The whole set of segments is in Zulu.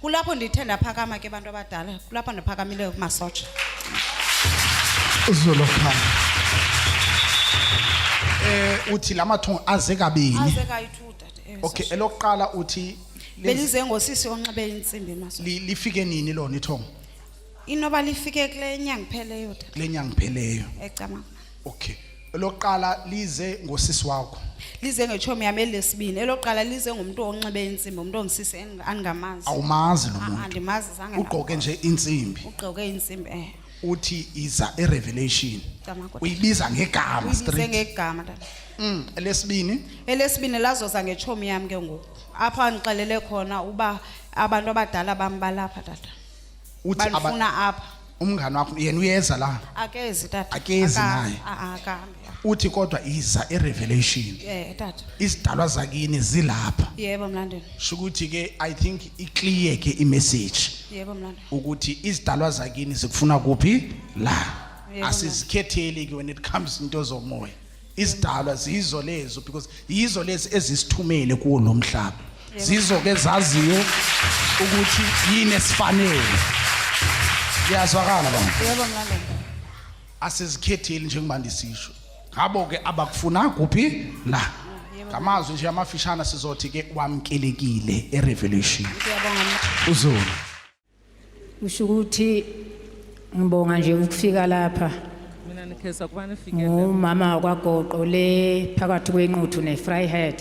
kulapho ndithe ndaphakama ke bantu abadala kulapho ndiphakamileyo kumasotsha izolo khaya eh uthi lamathongo aze kabini aze kayi-two dade eh, okay sasha. elokuqala uthi lenzi- belize ngosisi onxibe insimbi emasotsha li- lifike nini lona ithongo inoba lifike kule nyanga ipheleyo dade kule nyanga ipheleyo ecamanga okay Elokuqala lize ngosisi wakho. lize ngechomi yami elesibini elokuqala lize ngumuntu onxibe insimbi umuntu ongisisi eng- angingamazi Awumazi lo Ah, ah, muntu. ndimazi zange Ugqoke nje insimbi. ugqoke insimbi eh Uthi iza erevelation. Damagoda. Uyibiza ngegama uyibize straight. ngegama tata Mm, lesibini elesibini lazoza ngechomi yami ke ngoku apho andixelele khona uba abantu abadala bambalapha tata uthi aba- balifuna apha umngane wakho yena uyeza la akezi tata Akezi Aka- naye. a- a- akahambi ya. uthi kodwa iza irevelation eh tata izidalwa zakini zilapha yebo mlandeni shukuthi ke i think iclear ke imessage yebo mlandeni ukuthi izidalwa zakini zikufuna kuphi la Yebo, asizikhetheli ke when it comes into zomoya izidalwa zizo lezo because yizo lezi ezisithumele kuwo lo mhlaba zizo ke zaziyo ukuthi yini esifanele kuyazwakala bani yebo mlaleli asizikhetheli njengoba ndisisho ngabo ke abakufuna kuphi la ngamazwi nje amafishana sizothi ke wamkelekile erevelation siyabonga mntu. uzulu kusho ukuthi ngibonga nje ukufika lapha mina nikhesa kuba nifike ngumama wakwagoqo le phakathi kwenquthu ne-fryhead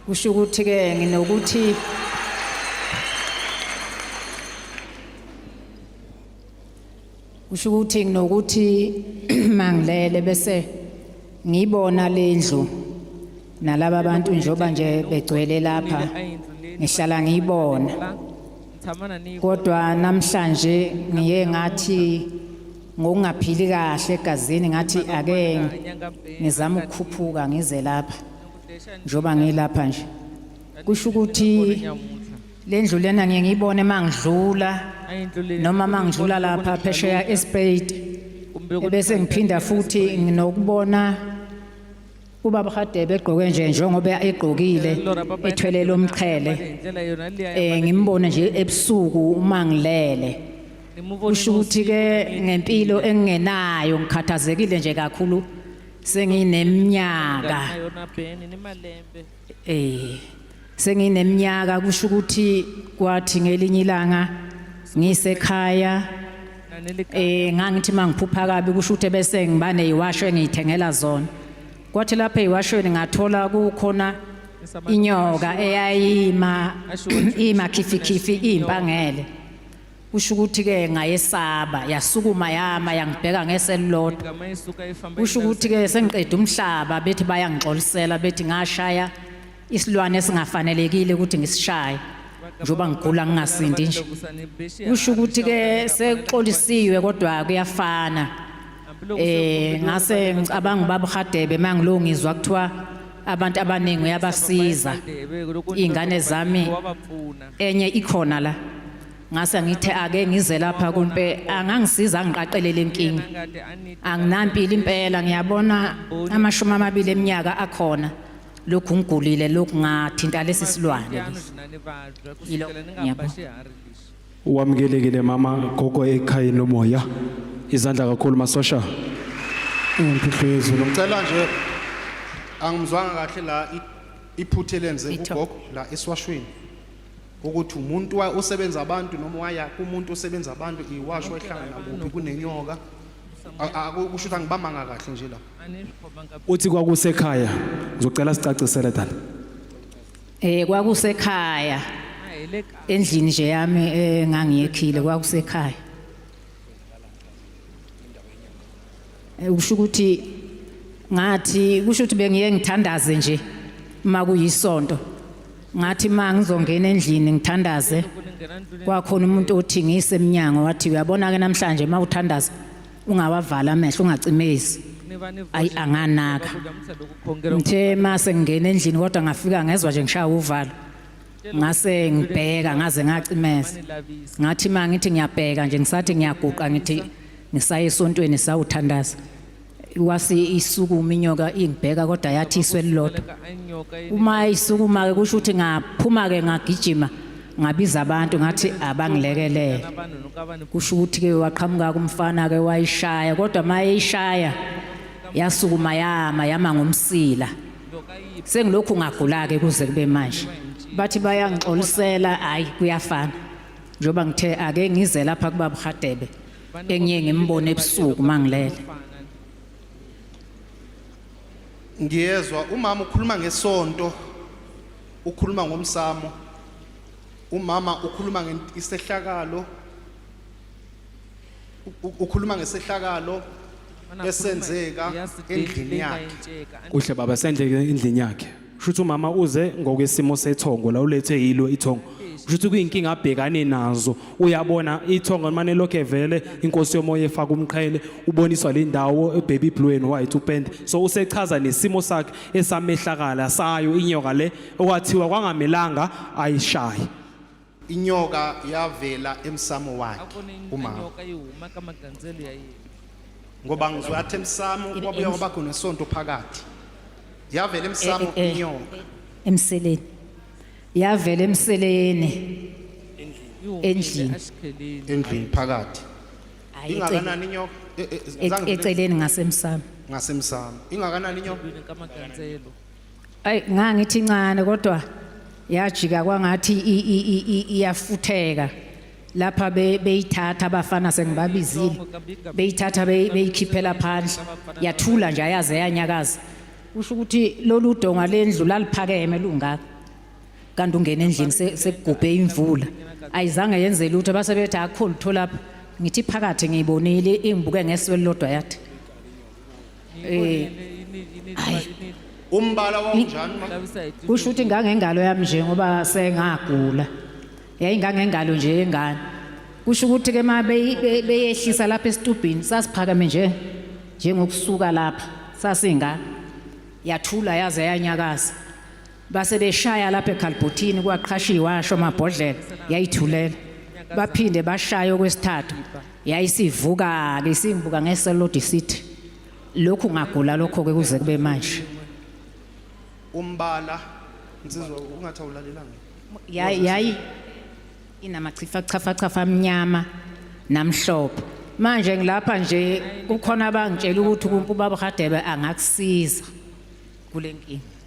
kusho ukuthi-ke nginokuthi Usho ukuthi nginokuthi mangilele bese ngibona lendlu nalaba bantu njoba nje begcwele lapha ngihlala ngiyibona kodwa namhlanje ngiye ngathi ngokungaphili kahle egazini ngathi ake ngizama ukukhuphuka ngize lapha njoba ngilapha nje kusho ukuthi Le ndlu lena ngiye ngiyibone uma ngidlula noma uma ngidlula lapha phesheya espade ebese ngiphinda futhi nginokubona ubaba Hadebe egqoke nje njengoba egqokile ethwele lomqhele eh ngimbone nje ebusuku uma ngilele usho ukuthi ke ngempilo engingenayo ngikhathazekile nje kakhulu sengineminyaka Eh sengineminyaka kusho ukuthi kwathi ngelinye ilanga ngisekhaya eh ngangithi mangiphupha kabi kusho ukuthi bese ngiba neyiwasho engiyithengela zona kwathi lapha eyiwashweni ngathola kukhona inyoka eyayima imakhifikhifi impangele kusho ukuthi-ke ngayesaba yasukuma yama yangibheka ngese elilodwa kusho ukuthi-ke sengiqeda umhlaba bethi bayangixolisela bethi ngashaya isilwane esingafanelekile ukuthi ngisishaye njengoba ngigula ngingasindi nje kusho ukuthi-ke sekuxolisiwe kodwa kuyafana eh ngase ngicabanga ubaba uHadebe mangilungizwa kuthiwa abantu abaningi uyabasiza ingane zami enye ikhona la ngase ngithe ake ngize lapha kumpe angangisiza ngiqaqelele inkingi anginampilo impela ngiyabona amashumi amabili eminyaka akhona lokhu ngigulile lokhu ngathinta lesi silwane yilo ngiyabona Wamukelekile mama gogo ekhayeni lomoya. Izandla kakhulu masosha. Impilo yezulu. Ngicela nje angimzwanga kahle la i- iphuthe lenze Itho. ugogo la esiwashweni. Ukuthi umuntu wa- usebenza abantu noma waya kumuntu usebenza abantu iwasho ehlangana kuphi kunenyoka. A- a- Kusho ukuthi angibamanga kahle nje la. Uthi kwakusekhaya. Ngizocela sicacisele dala. Eh kwakusekhaya endlini nje yami engangiyekhile eh, kwakusekhaya. Eh, usho ukuthi ngathi kusho ukuthi bengiye ngithandaze nje uma kuyisonto. Ngathi ma ngizongena endlini ngithandaze kwakhona umuntu othi ngise eminyango wathi uyabona ke namhlanje uma uthandaza ungawavala amehlo ungacimezi ayi anganaka ngithe uma sengingena endlini kodwa ngafika ngezwa nje ngishaya uvalo ngase ngibheka ngaze ngacimeza ngathi uma ngithi ngiyabheka nje ngisathi ngiyaguqa ngithi ngisaye esontweni sawuthandaza wase isukuma inyoka ingibheka kodwa yathi iswe lilodwa uma isukuma-ke kusho ukuthi ngaphuma-ke ngagijima ngabiza abantu ngathi abangilekelele kusho ukuthi ke waqhamuka kumfana ke wayishaya kodwa mayishaya yasukuma yama yama ngomsila sengilokhu ngagula ke kuze kube manje bathi bayangixolisela hayi kuyafana njengoba ngithe ake ngize lapha kuba buhadebe engiye ngimbone ebusuku mangilele ngiyezwa umama ukhuluma ngesonto ukhuluma ngomsamo umama ukhuluma ngesehlakalo ukhuluma ngesehlakalo esenzeka endlini yakhe kuhle baba senzeka endlini yakhe shuthi umama uze ngokwesimo sethongo la ulethe yilo ithongo shuthi kuyinkinga abhekane nazo uyabona ithongo manje lokho evele inkosi yomoya efaka umqhele uboniswa le ndawo ebaby blue and white upende so usechaza nesimo sakhe esamehlakala sayo inyoka le okwathiwa kwangamelanga ayishaye inyoka yavela emsamo wakhe umama ngoba ngizwe athi emsamo kwabuya kwaba khona isonto phakathi yavela emsamo eh, eh, eh. inyoka emseleni yavela emseleni endlini endlini phakathi Hayi, ecele- ingakanani inyoka E- e- e- zange- eceleni ngasemsamo ngasemsamo ingakanani inyoka kamaganzelo ayi ngangithi incane kodwa yajika kwangathi i- i- i- i- iyafutheka lapha be- beyithatha abafana sengibabizile beyithatha be- beyikhiphela phandle yathula nje ayaze yanyakaza kusho ukuthi lolu donga lendlu laliphakeme lungaka kanti ungena endlini sekugubhe imvula ayizange yenze lutho base bethi akho lutho lapha ngithi phakathi ngiyibonile ingibuke ngeso elilodwa yathi eh umbala wawunjani kusho ukuthi ngangengalo yami nje ngoba sengagula yayingangengalo nje yengane kusho ukuthi ke ma beyehlisa lapha esitubhini sasiphakame nje njengokusuka lapha sasinga yathula yaze yanyakaza base beshaya lapha ekhalbhothini kwaqhashiwe washo amabhodlela yayithulela baphinde bashaya okwesithathu yayisivuka ke simbuka ngeselodi sithi lokhu ngagula lokho ke kuze kube manje umbala insizwa ungathi awulalelanga yayi yayi inamachifa chafa chafa amnyama namhlophe manje ngilapha nje kukhona abangitshela ukuthi ubaba Hadebe angakusiza kulenkinga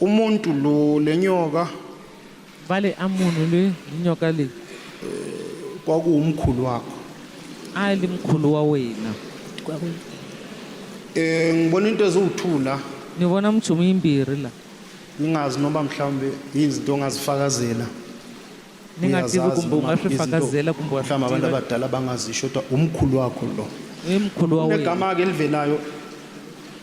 umuntu lo lenyoka vale amunhu le nyoka leyi eh, kwakuwumkhulu wakho a li mkhulu wa wena um eh, ngibona into eziwuthula ni vona minchumu yimbirhi la ngingazi noba mhlawumbe yini zinto ongazifakazela ni nga tivi kumbe u nga swi fakazela kumbe wa mhlawumbe abantu abadala bangazisho kodwa umkhulu wakho lo i mkhulu wa wena negama-ke elivelayo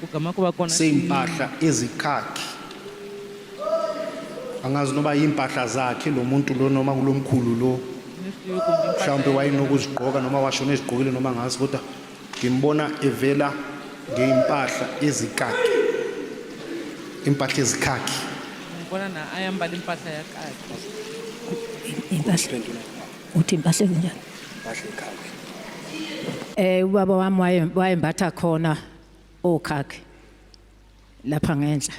kugama kuba kona sey'mpahla ezikhakhi angazi noba yiy'mpahla zakhe lo muntu lo noma kulo mkhulu lo mhlawumbe wayenokuzigqoka noma washona ezigqokile noma ngazi kodwa ngimbona evela ngey'mpahla ezikhakhi impahla ezikhakhi ngibona na ayambala impahla yakakhe impahla uthi impahla ezinjani impahla ekhakhi eh ubaba wami wayembatha khona okhakhe lapha ngenhla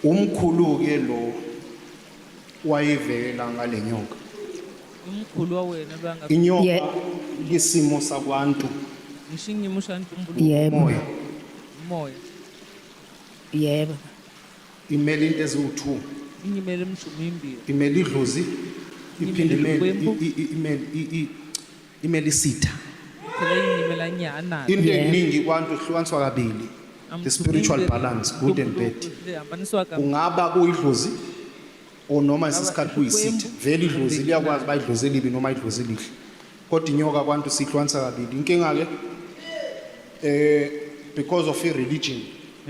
umkhulu ke lo wayivela ngalenyoka umkhulu wawena banga inyoka Ye- isimo sakwantu ngishingi mushantu umbulu yebo moya umoya yebo imele into eziwu-two inye imele imshumo imbili imele idlozi iphinde Imele imele ukwembu. i- i- imele i- i- imele isitha phela inye imela nyana into Yeah. eningi kwantu ihlukaniswa kabili the spiritual balance good and bad ihambaniswa ka ungaba kuyidlozi or noma isisikhathi kuyisitha vele idlozi liyakwazi uba idlozi elibi noma idlozi elihle kodwa inyoka kwantu siyihlwanisa kabili inkinga-ke eh because of i-religion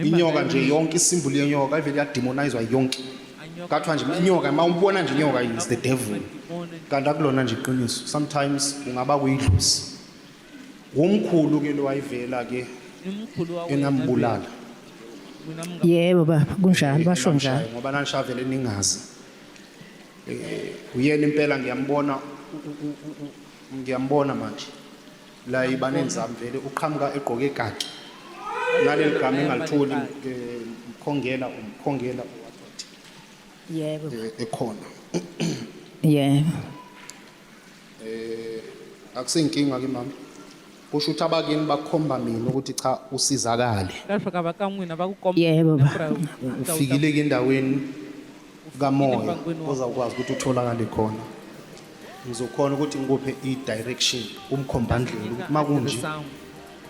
inyoka nje yonke isimbulu yenyoka ivele yademonizwa yonke kathiwa nje inyoka uma umbona nje inyoka is the devil kanti akulona nje iqiniso sometimes kungaba kuyidlozi Wumkhulu ke lo wayivela ke Umkhulu wakwethu. engambulala. Mina mngani. Yebo baba, kunjalo basho Engamshaya njalo. Ngoba nanishavele ningazi. Eh uyena impela ngiyambona u- u- u- u- ngiyambona manje. La ibanenzami vele uqhamuka egqoke kaki. Naleli gama engalitholi eh, mkhongela umkhongela Yebo. eh, ekhona. Yebo. Eh akusinkinga ke mama. Kusho ukuthi abakini bakhomba mina ukuthi cha usizakale. Yebo baba. Ufikile ke endaweni kamoya ozawukwazi ukuthi utholakale khona. Ngizokhona ukuthi ngikuphe i-direction umkhombandlela ukuthi makunje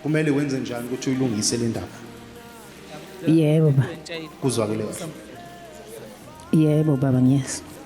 kumele wenze njani ukuthi uyilungise le ndaba. Yebo baba. Kuzwakele kahle. Yebo baba ngiyezwa.